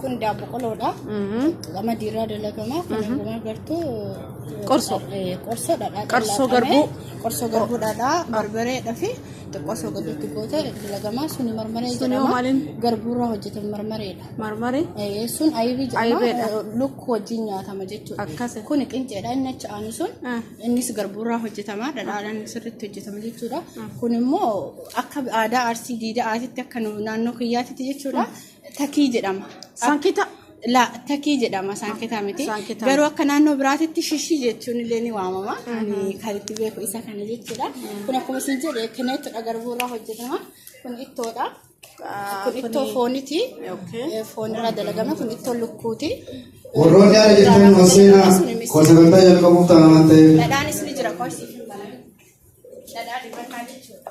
Kun daakuu qoloodha. Lama diiraa dalagama. Kan ammaa gartuu Qorsoo. eh, qorsoo dhadhaa Qorsoo dhaqamee, garbuu. Qorsoo garbuu dhadhaa barbareedha fi xiqqoo osoo gaditti goote dalagama. Suni marmaree Suni jedhama. hoo maaliin? Garbuurraa hojjetame marmareedha. Marmaree. Eh, Sun ayibii Ayibeedha. jedhama. Lukkuu wajjin nyaatama jechuudha. Akkasi. Kun qinceedha inni achi aanu sun. Ah. Innis garbuurraa hojjetama. Dhadhaadhaan sirriitti hojjetama jechuudha. Kun immoo akka aadaa arsii diida'aatitti akka nu- naannoo kiyyaatitti jechuudha. Takii jedhama. Sankita La takii jedhama saanketaa miti. Saanketaa. Garuu akka naannoo biraatitti shishii jechuun illee ni waamama. Ani kan itti beeku isa kana jechuudha. Kun akkuma isin jedhe kineettudha garbuurraa hojjetama. Kun ittoodha. Kun ittoo fooniti. Foonirraa dalagame kun ittoo lukkuuti. Warroonni haala jechuun nu seenaa koo sagantaa jalqabuuf ta'a waan ta'eef. Dhadhaanis ni jira qorsii. Dhadhaa dibataa jechuudha.